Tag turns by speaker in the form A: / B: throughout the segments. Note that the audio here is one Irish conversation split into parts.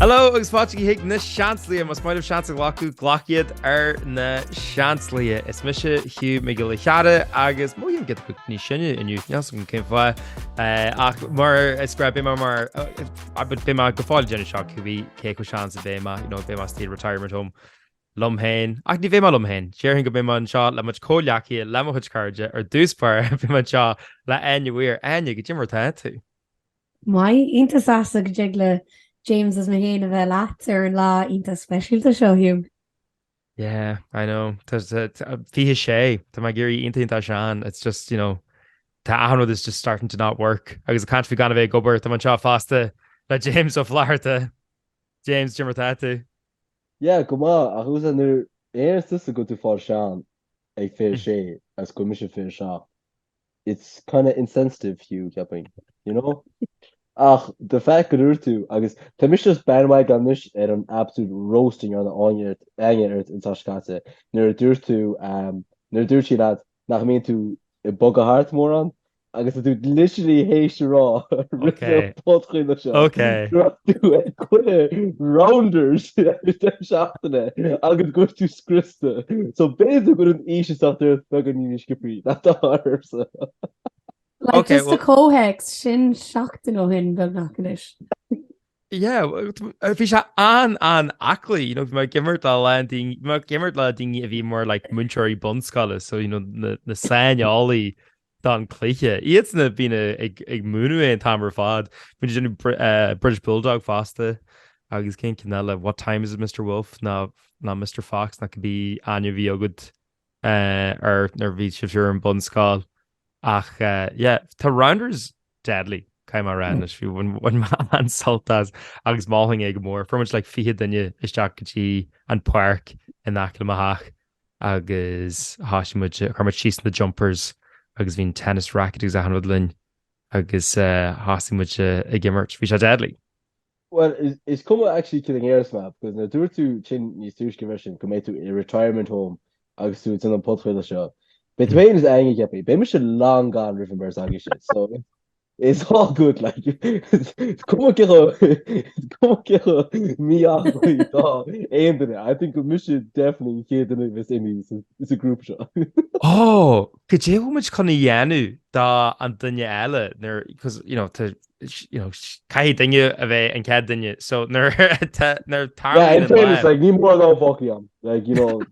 A: Hello agus fáilte chuig na Seansálaithe. Más maith libh seans a ghlacadh, glac iad ar na Seansálaithe. Is mise Hugh Mac Giolla Chearra agus mothaím giota níos sine inniu, níl a fhios agam cén fáth, ach mar is breá beidh mé mar, beidh mé go fóill ag déanamh seo, cé chomh sean is a bheidh mé, you know, beidh mé istigh i retirement home. liom féin, ach ní bheidh mé liom féin, déarfainn go mbeidh mé anseo le mo chuid comhghleacaithe le mo chuid cairde, ar dtús báire beidh mé anseo le Áine Weir, Áine, cad é mar atá tú. Maith, iontach sásta go dtig le James is mé féin a bheith leat ar an lá iontach speisialta seo, Hugh. Yeah, I know, tá, tá, 26, tá mé ag éirí iontach iontach sean, it's just, you know, tá achan rud is just starting to not work, agus ag caint faoi gan a bheith ag obair, tá mé anseo fosta le James Ó Flatharta, James, dé mar atá tú. Yeah, go maith, ach tá a fhios agat nuair a airíonns tusa go bhfuil tú ag fáil sean ag fiche sé is go bhfuil mise ag fiche seacht, it's kinda insensitive Hugh, cheapfainn, you know? Ach the fact go dúirt tú, agus tá mise just bandwagon anois ar an absolute roasting a rinne Áine ort, Áine ort an tseachtain seo caite, nuair a dúirt tú, nuair a dúirt sí leat, nach mbíonn tú ag bogadh thart mórán agus tú literally théis a rá ar an podchraoladh seo go raibh tú ag cluiche rounders ag an deireadh seachtaine agus go raibh tú scriosta so b'fhéidir go bhfuil an aois ag teacht ort beagáinín níos sciobthaí ná atá ormsa. Like just a comhthéacs, sin seachtain ó shin beagnach anois. Yeah, bhí sé an-an-aclaí, you know, bhí mé ag imirt le lán daoine, bhí mé ag imirt le daoine a bhí mar like múinteoirí bunscoile, so you know na, na saineolaithe don chluiche. Iadsan a bhíonn ag, ag múineadh é an t-am ar fad. Bíonn ag déanamh Br- eh, British Bulldog fosta agus cén ceann eile, What time is it Mr Wolf nó nó Mr Fox nó cibé ainm a bhí agat air nuair a bhí sibh ar an bunscoil ach yeah tá rounders deadly caithfidh mé a rá anois bhí bhain mé an-sult as agus mholfainn é go mór fuair muid like fiche duine isteach go dtí an páirc in aice le mo theach agus thosaigh muid chuir muid síos na jumpers agus bhí an tennis racket agus achan rud linn agus thosaigh muid ag imirt bhí sé deadly. Bhuel, is cuma actually céard a déarfas mé, because nuair a dúirt tú sin níos túisce freisin, go mbeidh tú i retirement home agus tú ag déanamh an podchraoladh seo, beidh tú féin is Áine, cheapfainn, beidh mise long gone roimh an beirt agaibhse, so it's all good, like, cuma céard cuma cé chomh mí-aclaí is atá aon duine, I think gur mise definitely an chéad duine a bheas imithe sa grúpa seo. Ó, cad é atá muid chun a dhéanamh don duine eile, nuair, because, you know, tá Caithfidh duine a bheith an chéad duine so nuair nuair tarlaíonn an bláth. Yeah in fairness like níor mhór do foclaí ann like you know.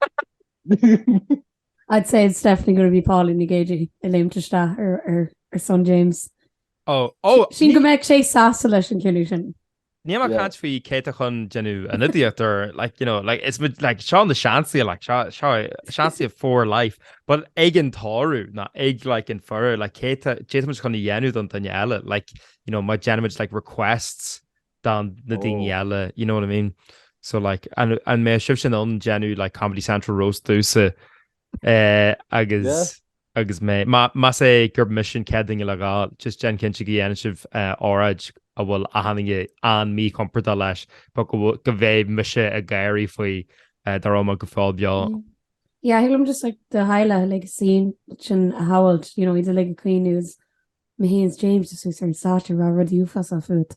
A: I'd say it's definitely gonna be Paulie Mac Éidigh ag léimt isteach ar ar ar son James. Oh oh ní. Sílim go mbeadh sé sásta leis an cinneadh sin. Níl mé ag caint faoi cé atá chun déanamh an idiot or like, you know, like, is like, seo an seansaí like, seo, seo seansaí for life. But ag an tórramh ná ag like, an faire like, céard atá muid chun a dhéanamh don duine eile like, you know, má déanann muid like, requests do na daoine eile, you know what I mean? So like, an, an mbeidh sibhse in ann déanamh like, Comedy Central roast domsa ag éag agus mé. Más é gurb mise an chéad duine le gabháil, just déan cinnte go ndéanann sibh óráid a bhfuil achan duine an-míchompordach leis, but go bhfuil, go bheidh mise ag gáirí faoi dá raibh mé go fóill beo. Yeah, thig liom just an Highlath, like sin a shamhailt, you know, idir like a ag caoineadh agus meanwhile James just sort of sat there, ag rá rudaí uafásacha fút.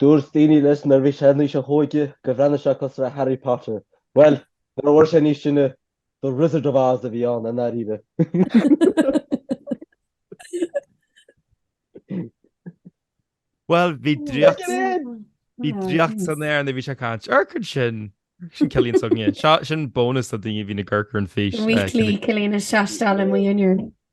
A: Dúirt daoine leis nuair a bhí sé in aois a hóige go bhreathnaigh sé cosúil le Harry Potter. Bhuel, nuair a fuair sé níos sine, The Wizard of Oz a bhí ann i ndáiríre. Bhuel, bhí draíocht, bhí draíocht san aer nuair a bhí sé ag caint. Ar aon chuma sin, sin Cillian s'againne. Seo, sin bónas do daoine a bhíonn ag amharc ar an bhfís. Weekly, Cillian is seasteáil i mo dhinnéar.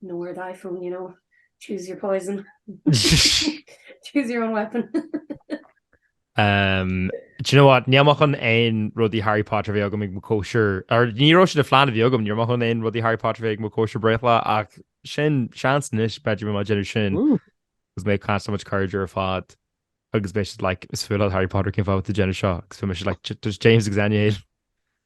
A: Nor thy phone, you know. Choose your poison. Choose your own weapon. um, do you know what? Ní maith an, aon rudaí Harry Potter bheith agam ag mo chóisir. Ní raibh sin ina phlean a bhí agam, níor mhaith liom aon rudaí Harry Potter bheith ag mo chóisir bhreithlá ach sin seans anois b'fhéidir mé ag déanamh sin. Agus mé cause so much carnage ar fad. Agus mé like, is fuath leat Harry Potter cén fáth a bhfuil tú ag déanamh seo. Agus mé like, does James exanuate?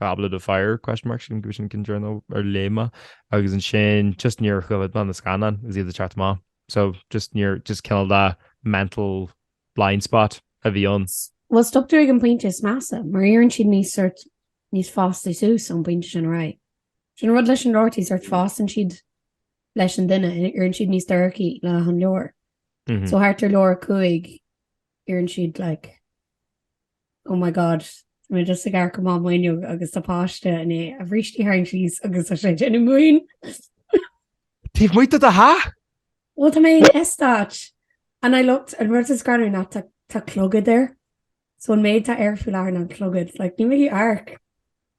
A: Goblet of Fire? sin go bhfisean an ceann deireanach ar léigh mé agus ansin just níor choimhéad mé na scannáin agus iad ag teacht amach so just níor just cineál de mental blind spot a bhí ann. Bhuel stop tú ag an pointe is measa mar éiríonn siad níos sort níos fásta suas ón bpointe sin ar aghaidh. Sin an rud leis na leabharthaí sort fásann siad leis an duine éiríonn siad níos dorcha le achan leabhar so thart ar leabhar a cúig éiríonn siad like. oh my god tá mé just ag amharc amach m'fhuinneog agus tá páiste i ndiaidh a bhrístí a tharraingt síos agus tá sé ag déanamh múin! Taobh amuigh de do theach? Bhuel tá mé in eastát and a leithéid an rud is greannmhar ná tá tá clogad air so an méid tá air faoi láthair ná an clogad like níl mé ag amharc.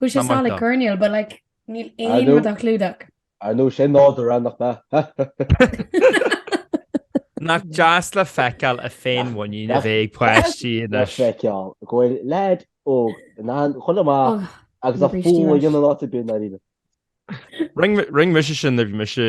A: Bhfuil sé sall ag coirnéal but like níl aon rud á chlúdach. I know, sé nádúr ann, nach mbeadh? Nach deas le feiceáil an fhéinmhuinín a bheith ag páistí anois. Nach deas le feiceáil go bhfuil leaid óg in ann chun a chac agus a mhún a dhéanamh in áit ar bith ná rinne. Rinne mise sin nuair a bhí mise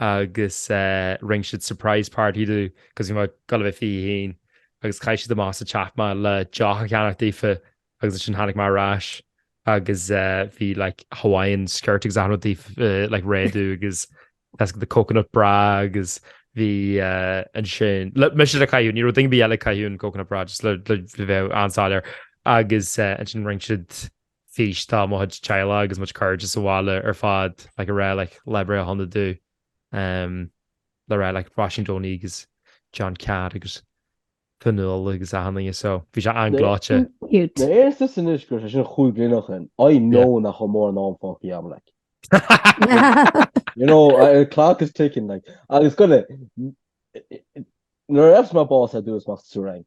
A: agus rinne siad surprise party domh 'cause bhí mé ag gol a bheith fiche a haon agus chaith siad amach as an teach mé le deoch a cheannach daofa agus ansin tháinig mé ar ais agus bhí like Hawaiian skirt agus achan rud daofa like réidh domh agus Tesco the coconut bra agus bhí ansin le mise le caitheamh ní raibh duine ar bith eile ag caitheamh an coconut bra just le bheith an-soiléir agus ansin rinne siad físeán de mo chuid teaghlaigh agus mo chuid cairde sa bhaile ar fad like ag rá like lá breithe sona domh um ag rá like Róisín Donie agus John Catt agus Fionnuala agus achan duine so bhí sé an-ghleoite. Cute. Mé is tusa anois gurb é sin cúig bliana ó shin I know Yeah. nach bhfuil mórán am fágtha agam like. You know, uh, the clock is ticking like. Agus go le nuair a gheobhas mé bás ar dtús amach as an triúr againn.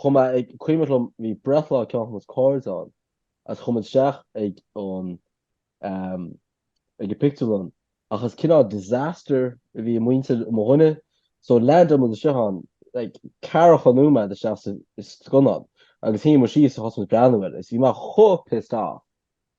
A: Chomh maith, is cuimhneach liom bhí breithlá ceann de mo chuid cairde ann, is chuaigh muid isteach ag an ag an pictiúrlann, ach is cineál disaster a bhí i muintir mo dhuine, so landáil muid isteach ann, like ceathracha nóiméad isteach sa scannán, agus shuigh muid síos is thosaigh muid ag breathnú air, is bhí mé chomh pissed off.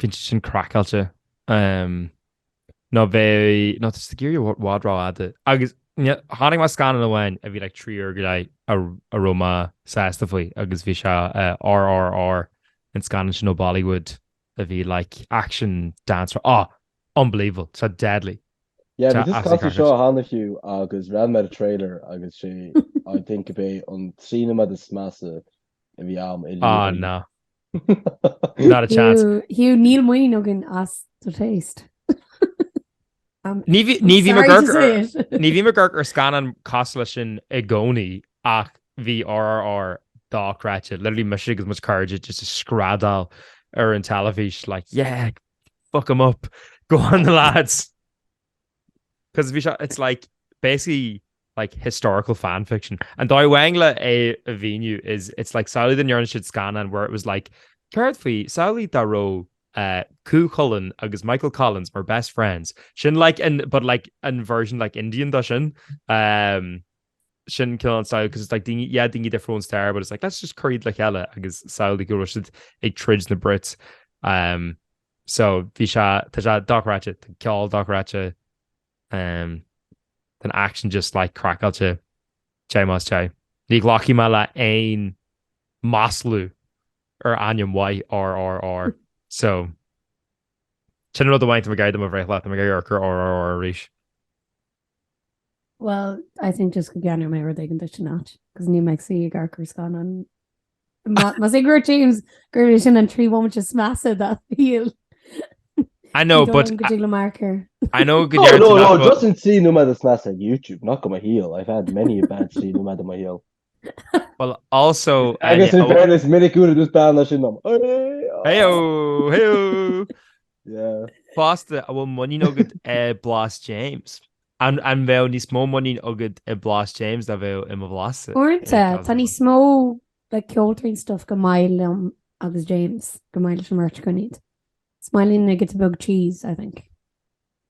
A: Bhí sé sin craiceáilte. Umm. Nó bheadh, nó tá sé ag éirí i bhfad rófhada. Agus chonaic mé scannán amháin a bhí like trí uair go leith a raibh mé sásta faoi agus bhí sé RRR an scannán sin ó Bollywood a bhí like action dance rá. Á! Unbelievable. Tá deadly. Yeah, bhí tusa ag casadh seo cheana fiú agus d'amharc mé ar an trailer agus sé I think gurb é an trí nóiméad is measa a bhí agam i mbliana. Á ná. Not a chance. Hugh, níl muinín againn as do taste. Ní bhím ag amharc ar scannáin cosúil le sin i gcónaí ach bhí RRR dochreidte, literally mise agus mo chuid cairde just ag screadaíl ar an teilifís like yeah, fuck 'em up, go on the lads. Cos bhí sé, it's like, basically like historical fan fiction. An dóigh amháin le é a mhíniú is it's like samhlaigh dá ndearna siad scannán where it was like céard faoi samhlaigh dá raibh eh Cú Chulainn agus Michael Collins were best friends. Sin like an but like an version like Indian dó sin. Eh sin cineál an style cos it's like daoine yeah daoine difriúla ón stair but it's like let's just cuir iad le chéile agus samhlaigh go raibh siad ag troid na Brits. Eh. So bhí sé, tá sé dochreidte, tá ceol dochreidte, ehm, tá an aicsean just like craiceáilte, té más té. Ní ghlacfaidh mé le aon maslú ar ainm mhaith RRR. So, sin an rud amháin atá mé ag iarraidh do mo bhreithlá, tá mé ag iarraidh amharc ar RRR arís. Bhuel, I think just go gceannóidh mé rud éigin duit ina áit, cos níl mé ag suí ag amharc ar scannán. Más ag rá James gurb é sin an trí bhomaite is measa dá shaol. I know, but... Go dtig le marker. I know go deireann tú nach bhfuil... No, no, no, just an trí nóiméad is measa ag YouTube, not de mo shaol. I've had many a bad trí nóiméad i mo shaol. Agus in fairness, minic úd agus bean leis an nom. Fosta, an bhfuil muinín agat i Blas James? An mbeadh níos mó muinín agat i Blas James ná a bheadh i mo bhlas? Uaireanta, tá níos mó like ceoltóirín stuff gur maith liom agus James, gur maith leis an mbeart scoiníd. Smaoiníonn mé giota beag cheese, I think.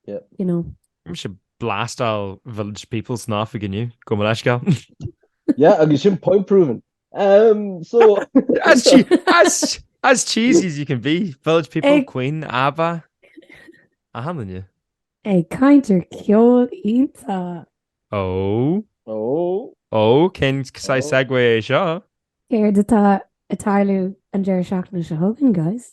A: you know. Bhí sé ag blastáil Village People san oifig inniu, gabh mo leithscéal. Yeah, agus sin point proven. Umm, so. As che- as, as cheesy as you can be, Village People, Ag- Queen, Abba. Achan duine. Ag caint ar ceol iontach. Oh, Oh, oh, cén saghas Oh. segue é seo? Céard atá ag tarlú an deireadh seachtaine seo chugainn, guys?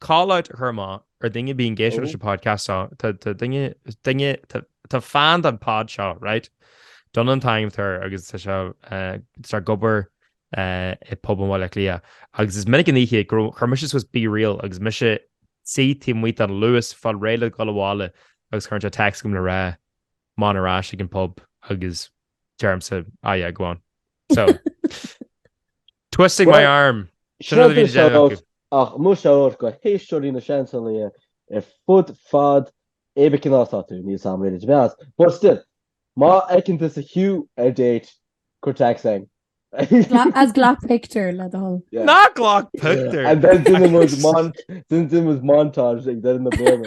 A: Call out a chur amach ar duine a bhíonn ag éisteacht leis an podcast seo, tá duine, tá fan den pod seo, right? Don an t-ainm atá air agus tá sé ag obair i pub i mBaile Átha Cliath. Agus is minic an oíche chuir mise suas Be Real agus mise ag suí taobh amuigh den Luas ag fáil réidh le dhul abhaile agus cuireann sé text chugam le rá, 'mon ar ais ag an pub agus deirimse ah yeah go on. So twisting my arm. Ach muise óir go héisteoirí Na Seansálaithe ar fud fad é ba cineál atá tú, níl sam réidh duit a bheith as, but still, má fheiceann tú sa chiú ar date, cuir text chugainn. Is glac pictiúr le do thoil. Ná glac pictiúr! And then déanfaidh muid montage ag deireadh na bliana.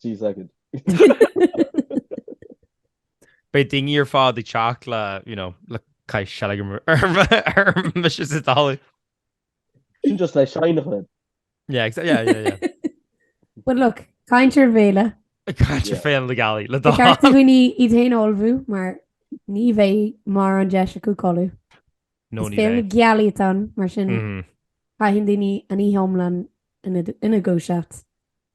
A: Sea, s'agad. Beidh daoine ar fad ag teacht le, you know, le caith seilg orm bheith sios is dálaí. Sin just le seineachna. Yeah, exactly, yeah, yeah, yeah. But look, caint ar bhéile. Caint ar Fhéile na Gealaí, le dála. Ceart do dhaoine iad féin a ullmhú mar ní bheidh mórán deis acu codladh. No, ní bheidh. Is Féile na Gealaí atá ann, mar sin caitheann daoine an oíche iomlán ina ndúiseacht.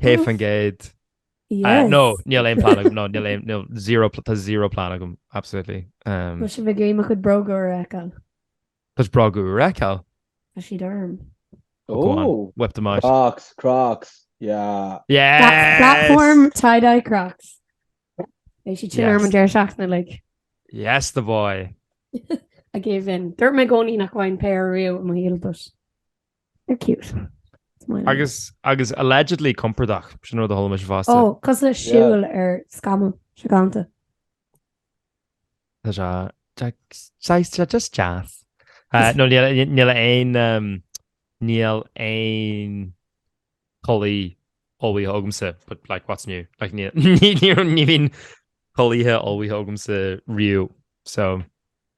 A: 100%. Yes. No, níl aon plan agam. No, níl aon, níl zero, pl- tá zero plan agam, absolutely. Um, Tá sibh ag iarraidh mo chuid bróga a fheiceáil. Tás bróga a fheiceáil. Tá siad orm. Oh, go on. Oh, Whip them out. Crocs, Crocs. Yeah. Yes! Pla- Platform tie-dye crocs. Bhí siad sin Yes. orm an deireadh seachtaine like Yes, the boy. I gave in. Dúirt mé i gcónaí nach bhfaighinn péire riamh i mo shaol, but They're cute. Smiling. Agus agus allegedly compordach, sin rud a chuala mise fosta. Ó, cosúil le siúl ar scamall, seo galanta. Tá sé just- saghas- tá sé just deas. Eh, nó níl a- níl aon, em, níl aon chulaith ullmhaithe agamsa, but like what's new? Like ní- ní- ní- ní bhíonn culaithe ullmhaithe agamsa riamh, so.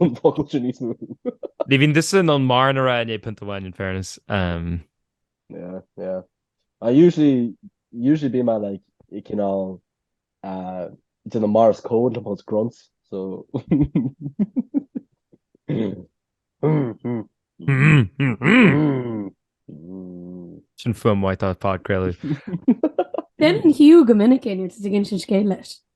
A: An focal sin níos mó. Ní bhíonn tusa in ann mórán a rá i ndiaidh pionta amháin in fairness. Um. Yeah, yeah. I usually, usually bíonn mé like, ag cineál uh, déanamh Morse Code le just grunts, so... Sin fuaim mhaith do phodchraoladh. Déanann Hugh go minic é nuair atá tú ag insint scéal leis.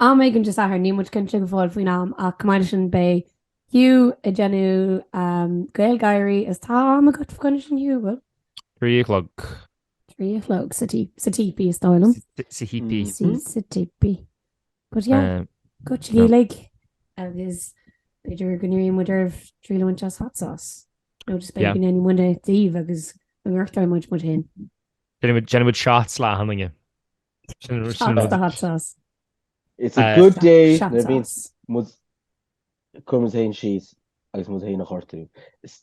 A: Am éigin Dé Sathairn, níl muid cinnte go fóill faoin am, ach chomh maith leis sin beidh Hugh ag déanamh GaelGÁIRÍ is tá am agat fá choinne sin Hugh? Bhuel. Trí a chlog. Trí a chlog sa tí, sa típí is dóigh liom. Sa thípí. Sa sa típí. But yeah, go dtí Gaeilg agus b'fhéidir go n-iarrfaidh muid oraibh triail a bhaint as hot sauce. Nó just b'fhéidir go ndéanfaidh muidne é daoibh agus go ngortóidh muid muid féin. Déanfaidh muid shots le tine. It's a good day nuair a bhíonn muid ag cur muid féin síos agus muid féin a ghortú.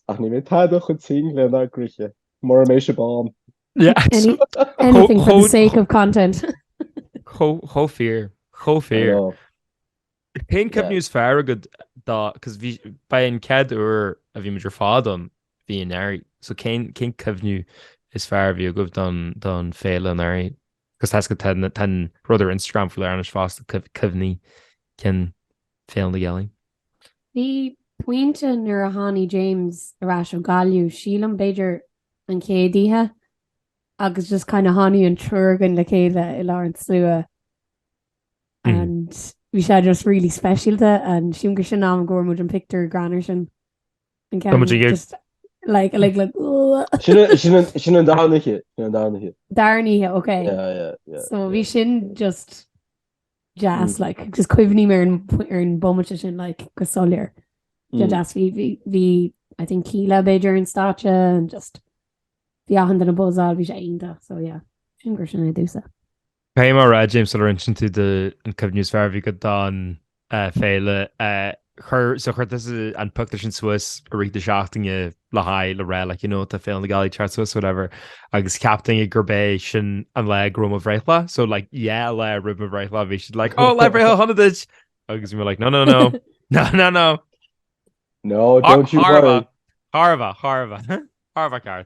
A: Ach ní mé tada chun ting le ná grithe mar mé se bán. Anything for the sake of content. Chomh fíor, chomh fíor. Cén cuimhní is fearr agat dá, cos bhí, ba é an chéad uair a bhí muid ar fad ann, bhí anuraidh, so cén, cén cuimhniú is fearr a bhí agaibh don, don féile anuraidh? Cos tá sco, tá, tá an rud ar Instagram faoi láthair anois fosta, cuimh, cuimhní cinn Féile na Gealaí. Bhí pointe nuair a tháinig James ar ais ó Gaillimh, sílim b'fhéidir an chéad oíche, agus just kind of tháinig an triúr againn le chéile i lár an tslua, and bhí sé just really speisialta and sílim gur sin an t-am go bhfuair muid an pictiúr greannmhar sin an Tá muid ceann ag- just like like like uh, Sin an- sin an- sin an darna oíche. Sin an darna oíche. darna oíche ok Yeah, yeah, yeah, yeah. so bhí sin just deas Mm. like just cuimhním ar an p- ar an bomaite sin like go soiléir de Mm. deas bhí bhí bhí I think Kíla b'fhéidir ar an stáitse and just bhí achan duine ag buzzáil bhí sé iontach so yeah sílim gur sin é domhsa Caithfidh mé a rá, James, sula roinneann tú do an cuimhne is fearr a bhí agat don féile, chuir, so chuir tusa an pictiúr sin suas i rith na seachtaine le haghaidh le rá, like, you know, tá Féile na Gealaí ag teacht suas, whatever, agus cheap daoine gurb é sin an lá go raibh mo bhreithlá, so, like, yeah, an lá roimh mo bhreithlá, bhí siad like, oh, Lá Breithlá Shona duit! agus we were like, no, no, no, no, no, no! No, don't you worry! Thar a bheith, thar a bheith, thar a bheith ceart.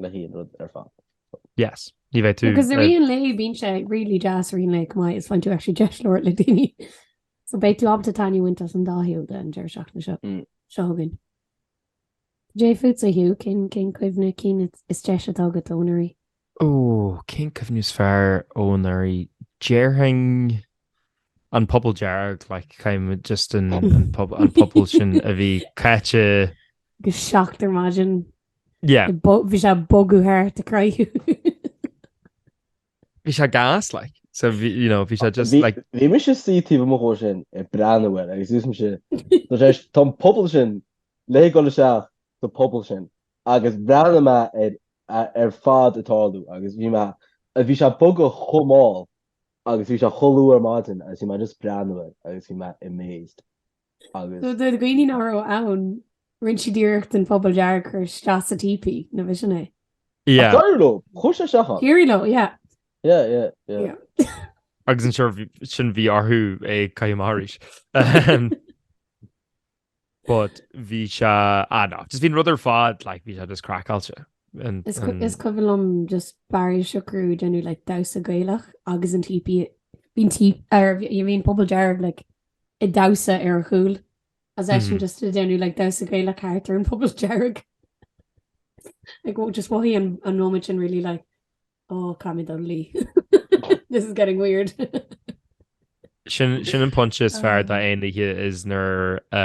A: le haon rud ar fad. Yes. Ní bheidh tú. Because i rith an lae bíonn sé really deas i rith an lae chomh maith is faigheann tú actually deis labhairt le daoine. So beidh tú ábalta taitneamh a bhaint as an dá shaol de an deireadh seachtaine seo. Mm. Seo chugainn. Dé fútsa Hugh, cén cén cuimhne cinn is deise atá agat ó anuraidh? Ó, cén cuimhne is fearr ó anuraidh? Déarfainn an puball dearg, like, caithim just an, an, pub, an puball sin a bhí caite go seacht ar maidin Yeah. Bhí sé bogadh thart ag croitheadh. Bhí sé gas like. So bhí, you know, bhí sé just like. Bhí mise suí taobh amuigh ó sin ag breathnú air agus dúirt mise, Tá sé, tá an puball sin le dhul isteach sa phuball sin. Agus bhreathnaigh mé air ar fad ag tarlú agus bhí mé, bhí sé bogadh chomh mall agus bhí sé chomh luath ar maidin agus bhí mé just ag breathnú air agus bhí mé amazed. agus. So do dhaoine nár raibh ann, rinne siad iarracht an puball dearg a chur isteach sa típí, nach sin é? Yeah. Ach d'éirigh leo, chuir sé isteach ann. D'éirigh leo, yeah. Yeah, yeah, yeah. Yeah. Agus ansin bhí, sin bhí orthu é a chaitheamh amach arís. Ahem. But bhí sé, ah no, just bhí an rud ar fad, like, bhí sé just craiceáilte. And, Is cu- and- is cuimhin liom just Barry Siochrú ag déanamh like damhsa gaelach agus an típí bhí an tí ar bhí- bhí an puball dearg like ag damhsa ar a chúl. Is eisean just ag déanamh like damhsa gaelach thart ar an puball dearg like oh just mhothaigh an an nóiméad sin really like oh caithfimid dul a luí this is getting weird. Sin sin an pointe is fearr de aon oíche is nuair a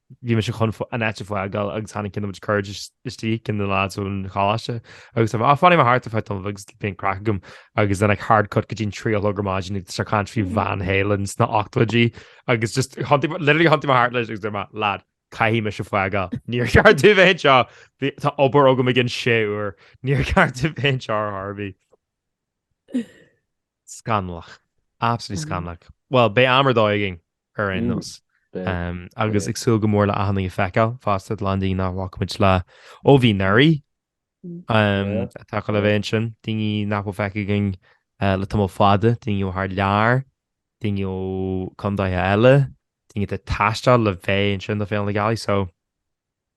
A: bhí mise chun an áit a fhágáil agus tháinig cinnte muid cuaird istigh cionn de na lads ón choláiste agus tá, á fanfaidh mé thart fá dtaobh agus beidh an craic agam agus then I hard cut go dtí an trí a chlog ar maidin is é ag caint faoi Van Halen sna h-ochtóidí agus just thiontaigh, literally thiontaigh mé thart leis agus deir mé, lad, caithfidh mise fágáil, níor cheart domh a bheith anseo, bhí, tá obair agam i gcionn sé uair, níor cheart domh a bheith anseo ar chor ar bith. Scannalach. Absolutely scannalach. Bhuel, beidh am ar dóigh againn ar aon nós. Agus ag súil go mór le achan duine a fheiceáil fosta, a lán daoine nach bhfaca muid le ó bhí anuraidh atá le bheith ansin, daoine nach bhfuil feicthe againn le tamall fada, daoine ó thar lear, daoine ó chontaetha eile, daoine atá ag taisteal le bheith ansin do Féile na Gealaí. So,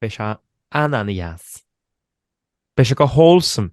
A: beidh sé an-an-deas. Beidh sé go wholesome!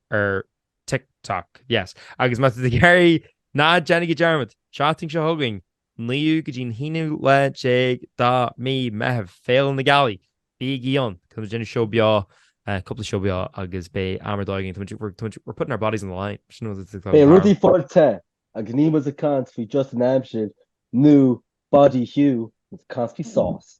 A: ar TikTok. Yes. Agus má tá tú ag iarraidh, ná déanaigí dearmad, seachtain seo chugainn, 9ú go dtí an aonú lá déag de mhí Meitheamh, Féile na Gealaí, bígí ann, tá muid ag déanamh seó beo, cúpla seó beo agus beidh am ar dóigh againn, tá muid, we're, we're putting our bodies on the line, sin rud atá Beidh thar rudaí fáilte agus níl muid ag caint faoi just an aimsir nó body heat, tá muid ag caint faoi sauce.